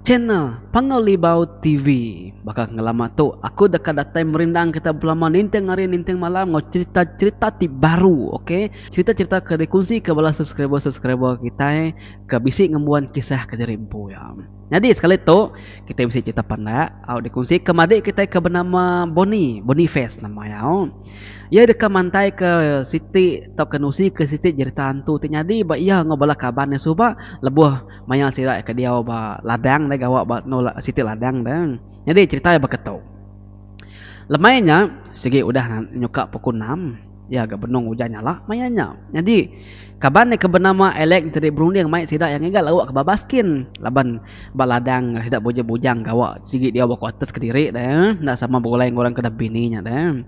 Channel Panggau Libau TV. Baka ngelama tu, aku deka datai merindang kita belama ninting hari ninting malam enggau cherita-cherita ti baru, ok. Cherita-cherita ke dikonsika bala subscriber-subscriber kitai ke bisi ngembuan kisah kediri empu iya. Nyadi sekali tu, kitai bisi cherita pandak au dikonsika madik kitai ke benama Boni, Bonifest nama iya. Iya deka mantaika siti tauka nusika siti cherita hantu ti nyadi ba iya enggau bala kaban iya suba lebuh. Maya sida ke diau ba ladang deh gawa ba endur siti ladang deh nyadi cherita iya baka tu. Lemai nya sigi udah nyuka puku enam iya ga benung ujan nyala maya nya. Nyadi kaban iya ke benama Alex enti berunding mai sida iya ngiga lauk ke babas kin laban ba ladang sida bujang-bujang gawa sigi diau ba kuarters kediri deh enda sama begulai enggau orang ke udah bini nya deh.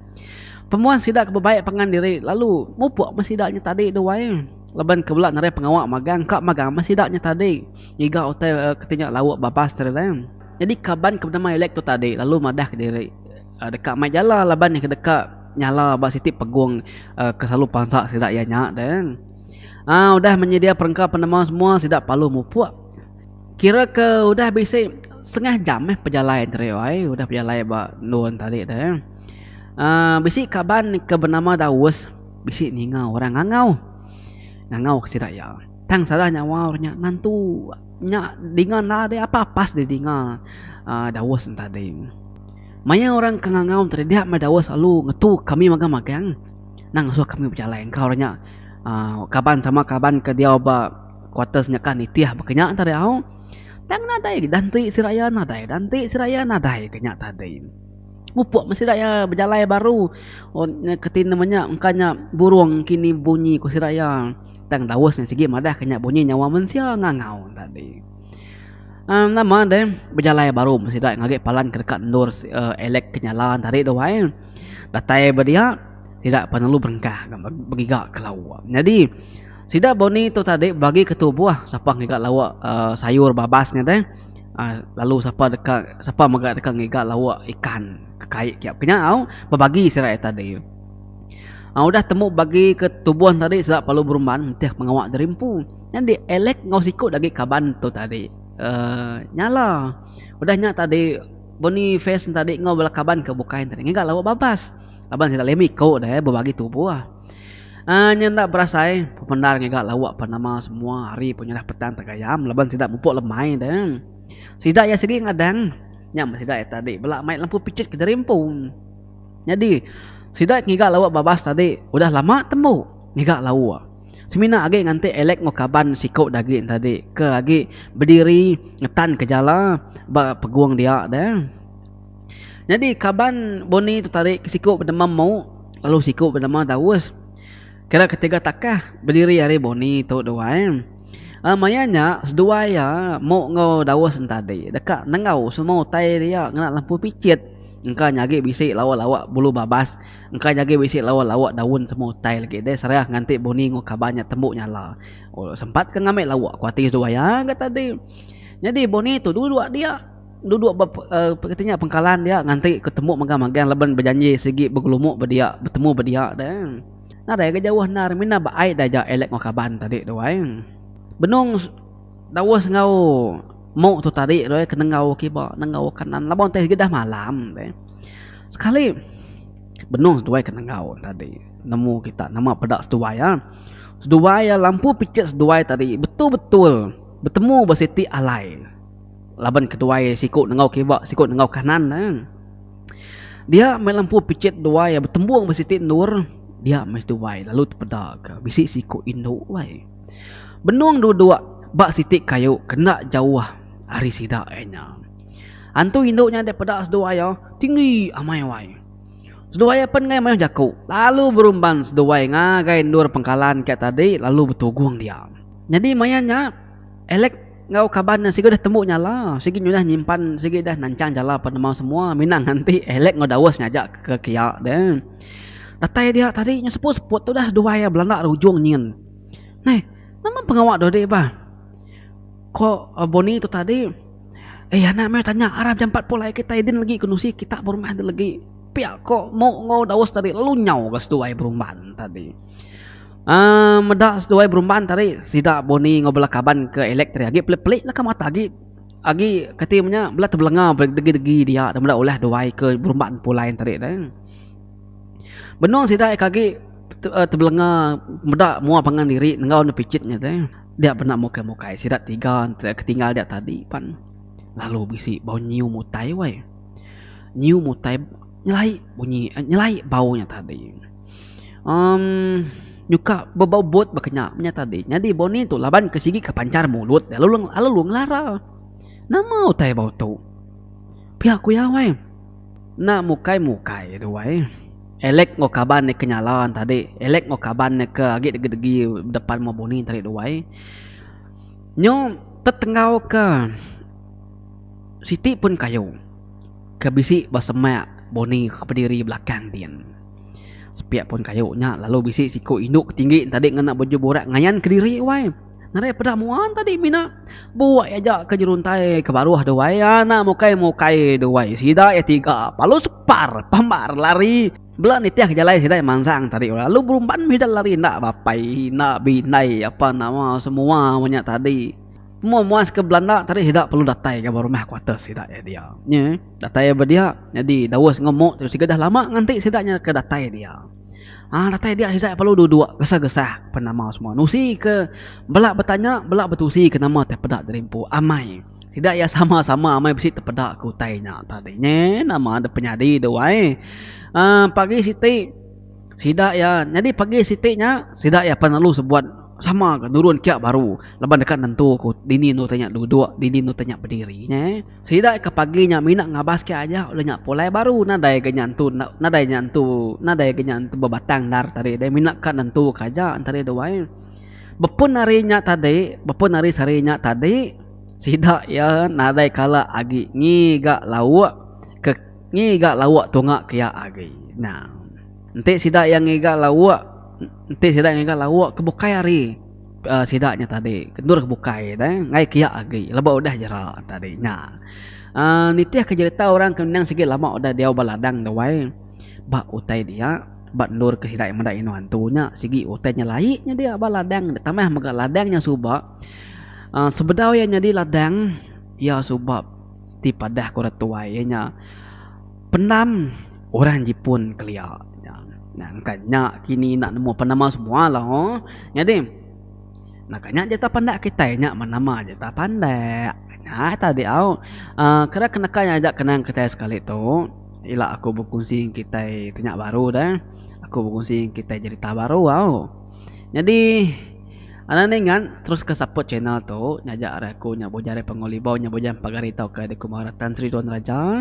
Pemuan sida ke bebai pangan diri lalu mupuk meh sida nya tadi duai. Laban ke bela narai pengawa magang ka magang meh sida nya tadi ngiga utai keti nya lauk babas tadi tang. Nyadi kaban ke benama Alex tu tadi lalu madah ke diri deka mai jala laban iya ke deka nyala ba siti pegung ke selalu pansa sida iya nya tang. Aa udah menyedia perengka penemu semua sida parlu mupuk. Kira ke udah bisi setengah jam meh pejalai tadi ai udah pejalai ba endur tadi tang. Aa bisi kaban ke benama Daus. Bisi ninga orang ngangau. Ngangau ke sida iya. Tang sada nyawa orang nya nantu nya dinga enda ada apa pas dia dinga aaa Daus nya tadi. Maya orang ke ngangau tadi dia meh Daus lalu ngetu kami magang magang nang ngasuh kami bejalai engka orang nya aaa kaban sama kaban ke diau ba kuarters nya kan nitih baka nya tadi au. Tang nadai dan ti sida iya nadai dan ti sida iya nadai ke nya tadi. Upok meh sida iya bejalai baru keti ne meh nya engka nya burong kini bunyi ku sida iya. Tang daus nya sigi madah ka nya bunyi nyawa mensia ngangau ne tadi. uhh Nama deh bejalai baru meh sida ngagi palan ke deka endur uhh elek ke nyala tadi tu ai. Datai ba dia sida penelu berengkah begiga ke lawa. Nyadi sida bunyi tu tadi bagi ke tubuh sapa ngiga lawa uhh sayur babas nya deh. Lalu sapa deka sapa mega deka ngiga lauk ikan ke kai ke kiap ke nya au bebagi sida ita deh. Udah temu bagi ke tubuh tadi sida perlu berumban nitih pengawa diri empu. Nyadi Alex enggau siku lagi kaban tu tadi uhh nyala udah nya tadi Boniface tadi enggau bala kaban ke bukai tadi ngiga lauk babas laban sida leh mih iku deh bebagi tubuh. Nya enda berasai pemendar ngiga lauk pan nama semua hari pun nyerah petang tegayam laban sida mupuk lemai de. Sida iya sigi ngadang nya men sida iya tadi bela mai lempu pichit ke diri empu. Nyadi sida ngiga lauk babas tadi udah lama tembu ngiga lauk. Semina agi nganti Alex enggau kaban siku de agi tadi ke agi bediri ngetanka jala ba pegung dia de. Nyadi kaban Bonnie tetarik ke siku bedemam memu lalu siku bedemam daus. Kira ketiga takah bediri ari Bonnie tu dua eh. Uh, maya nya seduai iya muk enggau daus entadi deka nenggau semua utai dia ngena lempu picit engka nyagi bisi lawa-lawa bulu babas engka nyagi bisi lawa-lawa daun semua utai lagi deh serah nganti Bonnie enggau kaban nya tembu nyala. Oh sempat ke ngambi lawa kuati seduai iya ga tadi. Nyadi Bonnie tu dulu dua dia. Duduk ba kati nya pengkalan dia nganti ku temu mega magang laban bejanji sigi begelumu ba dia betemu ba dia da. Nadai ga jauh endar mina ba ai da ja Alex enggau kaban tadi tu ai. Benung Daus enggau Mok tu tadi tu ai ke nenggau kiba nenggau kanan laban utai sigi dah malam deh. Sekali benung seduai ke nenggau tadi nemu kita nama peda seduai iya. Seduai iya lampu picit seduai tadi betul-betul betemu ba siti alai. laban keduai siku nengau kiba siku nengau kanan ne dia meh lempu picit duai betembung ba siti endur dia meh duai lalu tepeda ke bisi siku indu alai benung dua dua ba siti kayu ke enda jauh ari sida iya nya antu indu nya dek peda seduai iya tinggi amai wai seduai iya pen ngai mayuh jaku lalu berumban seduai ngagai endur pengkalan kiya tadi lalu betugung dia nyadi maya nya elek Enggau kaban ne sigi udah tembu nyala, sigi nyudah nyimpan, sigi udah nanchang jala penemu semua mina nganti Alex enggau Dawes ngaja ke kia deh. Datai dia tadi nya seput-seput tu dah duai iya belanda ri ujung nyin. Neh, nama pengawa dodi bah? Ko Bonnie tu tadi, Eh anak meh tanya arap jam empat pulai kitai din lagi kenusi kita berumban din lagi. Pia ko Mok enggau Dawes tadi lalu nyau ga seduai berumban tadi. Aaa meda seduai berumban ti ari sida Bonnie enggau bala kaban ke Alex ti ari agi pelik-pelik laka mata agi agi kati inya nya bela tebelenga degi-degi dia dak meda ulih duai ke berumban pulai enti ari deh. Benung sida agi ke tebelenga meda mua pangan diri enggau ne picit nya deh dia benda mukai-mukai sida tiga enti ketinggal dia tadi pan lalu bisi bau nyiu mutai weh. Nyiu mutai nyelai bunyi nyelai bau nya tadi. Um nyuka bebobot baka nya meh tadi nyadi boni tu laban ke sigi ke panchar mulut lalu lalu ngelara nama utai bau tu pia ku iya weh enda mukai mukai tu weh elek enggau kaban ke nyala tadi elek enggau kaban ke agi degi degi depan meh boni tadi tu weh nyu tetenggau ke siti pun kayu ke bisi ba semak boni ke kediri belakang din. Sepiak pun kayu nya lalu bisi siku indu ke tinggi entadi ngena baju burak ngayan ke diri wai. Nadai peda mua entadi mina. Buak iya aja ke jeruntai ke baruh deh wai anak mukai mukai deh wai sida iya tiga lalu separ pambar lari bela nitih jalai sida mansang tadi lalu berumban mih ida lari enda bapai enda bindai apa nama semua meh nya tadi. Mua muas ke belanda tadi sida perlu datai ga rumah kuarters sida iya dia. Nya. Datai ia ba dia, nyadi Daus enggau Mok tu sigat dah lama nganti sida nya ke datai dia. Ha, datai dia Isai parlu duduk gesah-gesah pen nama semua. Nusi ke bela betanya, bela betusi ke nama ti peda dirimpu amai. Sida ia sama-sama amai bisi tepeda ke utai nya tadi. Nyi nama dep penyadi tu ai. Ha, pagi siti sida ia nyadi pagi siti nya sida ia pan lalu sebuat sama ga nurun kia baru laban deka nentuka dini enda tanya duduk, dini enda tanya bediri. Nyi. Sida ke pagi nya mina ngabas ke aja udah nya pulai baru nadai ga nya entu nadai nya entu nadai ga nya entu bebatang endar tadi deh mina ka nentu ka aja tadi deh wai. Bepun hari nya tadi bepun hari sehari nya tadi sida iya nadai kala agi ngiga lauk ke ngiga lauk tunga ke iya agi nah. Enti sida iya ngiga lauk enti sida ngiga lauk ke bukai hari. Ke sida nya tadi kendur ke bukai deh ngai kiak agi leba udah jera tadi nya. Uh, nitih ke jerita orang ke nang sigi lama udah diau ba ladang tu wai. Ba utai dia, ba endur ke sida meda inu antu nya sigi utai nya lai nya dia ba ladang nya tambah mega ladang nya suba. Uh, sebedau iya nyadi ladang iya suba ti padah ke orang tuai iya nya. Pendam orang jipun kelia nya. Nah engka nya kini enda nemu apa nama semua lah ho. Nyadi naka nya jeta pandak kitai nya ba nama jeta pandak. Nya tadi au uhh kena ke naka nya aja kenang kitai sekali tu ila aku bekunsi ngan kitai ti nya baru deh. Aku bekunsi ngan kitai jerita baru au. Nyadi anang ningan teruska support channel tu nyaja ari aku nya boh jari Pangu Libau nya boh jari pagar ita ukai dikumba Ratan Sri Doan Raja.